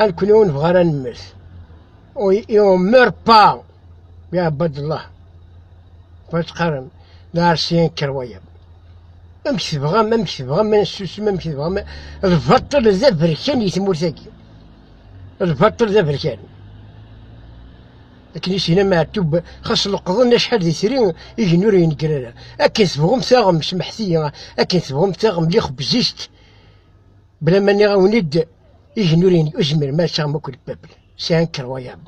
A nekkni ur nebɣi ara nemmet. Iɛemmer pa iɛebbad Allah. Fattqarem d aɛersiyen kker wayeḍ. Amek tebɣam, amek tebɣam ma nessusem, amek tebɣam lbaṭel d aberkan di tmurt-agi. Lbaṭel d aberkan. Akken i s-yenna Meɛtub, xas leqḍen acḥal d itri, igenni ur yenegger ara. Akken tebɣum taɣem, semḥet-iyi, akken tebɣum taɣem, lliɣ bzizt. Bla ma nniɣ awen-d, igenuriyen ur zmiren ad taɣem akk lpepl, sɛan kerwayaḍ.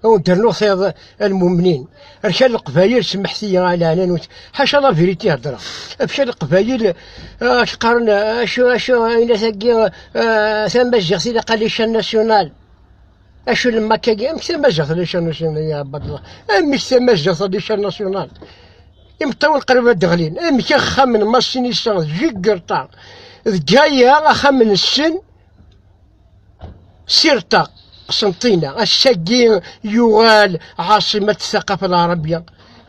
Awen d-rnuɣ tayeḍ almumnin, rkan leqbayel, semḥet-iyi a lɛananut, ḥaca la vérité i heddreɣ, rkan leqbayel, ak qqaren acu acu ayennat-agi tamaziɣt ilaq ad ichan national. Acu lemma kagi, amek tamaziɣt d icarnasyunal ya Abdallah? Amek tamaziɣt d icarnasyunal? Imeṭṭawen qrib ad d-ɣlin. Amek axxam n Massin Issa d Jiggerta d Gaya axxam n Sen Sirta Qsentina. Ass-agi yuɣal ɛaṣimat taqafa lɛarabya.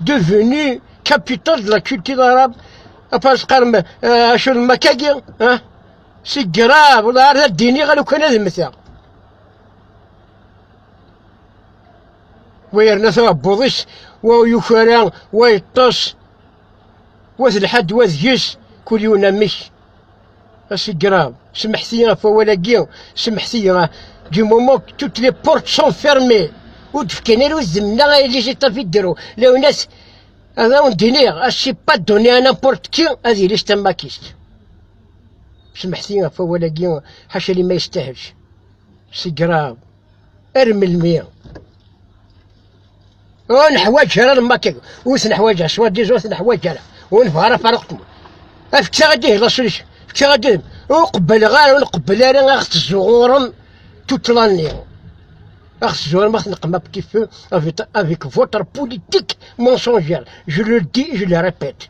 Devenu capital de la culture arabe. Apas qarem acu lemma kagi, si grave, wala ar ad d-iniɣ alukan ad mteɣ. wa yerna taɛebbuḍ-is wa yukara wa yeṭṭes wa telḥa-d wa deg-s kul yiwen amek asigrav semḥet-iyi ɣef wawal-agi semḥet-iyi ɣef du moment que toutes les portes sont fermées ur d-fkan ara udem neɣ ay législatif fi ddrew lawnas ad awen-d-iniɣ a c'est pas donné à n'importe qui ad yili s tamakist Semḥti ɣef wawal-agi, ḥaca li ma yestahel. Segraḍ. Ar melmi? Ur neḥwaǧ ara lmakeg, ur t-neḥwaǧ ara, swar diz ur t-neḥwaǧ ara. Ur nefɣ ara faruq tmur. Afektaɣ ad d-ihi lasulix, fektaɣ ad d-ihi. Ur qebbleɣ ara, ur nqebbel ara ad ɣ-tezzuɣurem tutla-nni. À Khzor petit feu avec, avec votre politique mensongère. Je le dis, je le répète.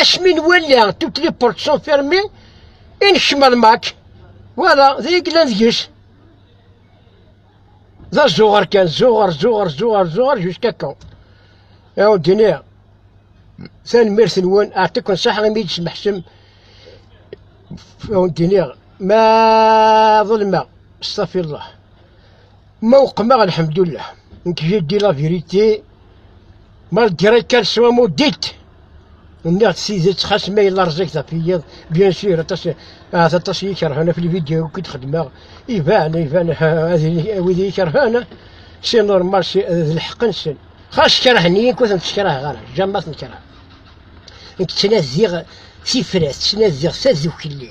Asmi nwala toutes les portes sont fermées, i nekcem ar mac. Wala, d ay yellan deg-s. D azuɣer kan, zuɣer, zuɣer, zuɣer, zuɣer, jusqu'à quand? Aw d-nniɣ, tanemmirt-nwen, aɛtikken saḥ imi d-smeḥsem, aw d-nniɣ, ma ḍelmeɣ, stafirlah. Ma uqmeɣ alhamdulillah, nekk je dis la vérité, malgré qu'elle soit maudite. Nniɣ-d tidet xas ma yella rẓiget ɣef yiyeḍ, bien sûr, aṭas ahat aṭas i yi-kerhen ɣef lvideo akk i d-xedmeɣ, iban, iban, wid i yi-kerhen, si normal, si d lḥeqq-nsen. Xas kerhen-iyi nekk ur ten-ssekraheɣ ara, jamais ad ten-kerheɣ. Nekk ttnadiɣ tifrat, ttnadiɣ tadukli.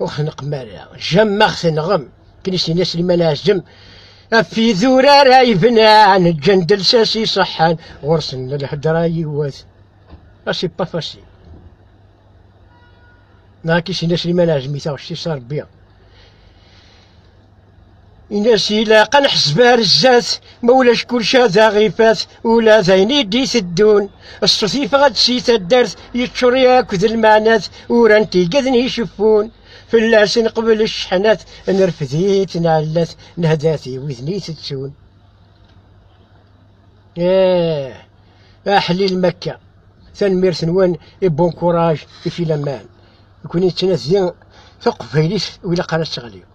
Ur xneqem ara, jamma tenɣem. Akken i s-yenna Sliman Ɛazem, af idurar ay bnan, ǧǧan-d lsas iṣeḥḥan, ɣur-sen lhedra yiwet. A c'est pas facile. Neɣ akken i s-yenna Sliman Ɛazem i taɣect-is, a Rebbi. Ini-as ilaq ad neḥseb ar zdat, ma ulac kulci ad aɣ-ifat, ula d ayen i d-iteddun. Ṣṣut yeffeɣ-d si taddart, yeččur yakk d lmeɛnat, uran-t igeden iceffun. Fell-as neqbel cceḥnat, nerfed-it nɛellat, nehda-t i widen itettun. Eh, aḥlil makka. Tanemmirt-nwen i bon courage i filaman. Nekuni nettnadi taqbaylit u ilaq ara teɣli.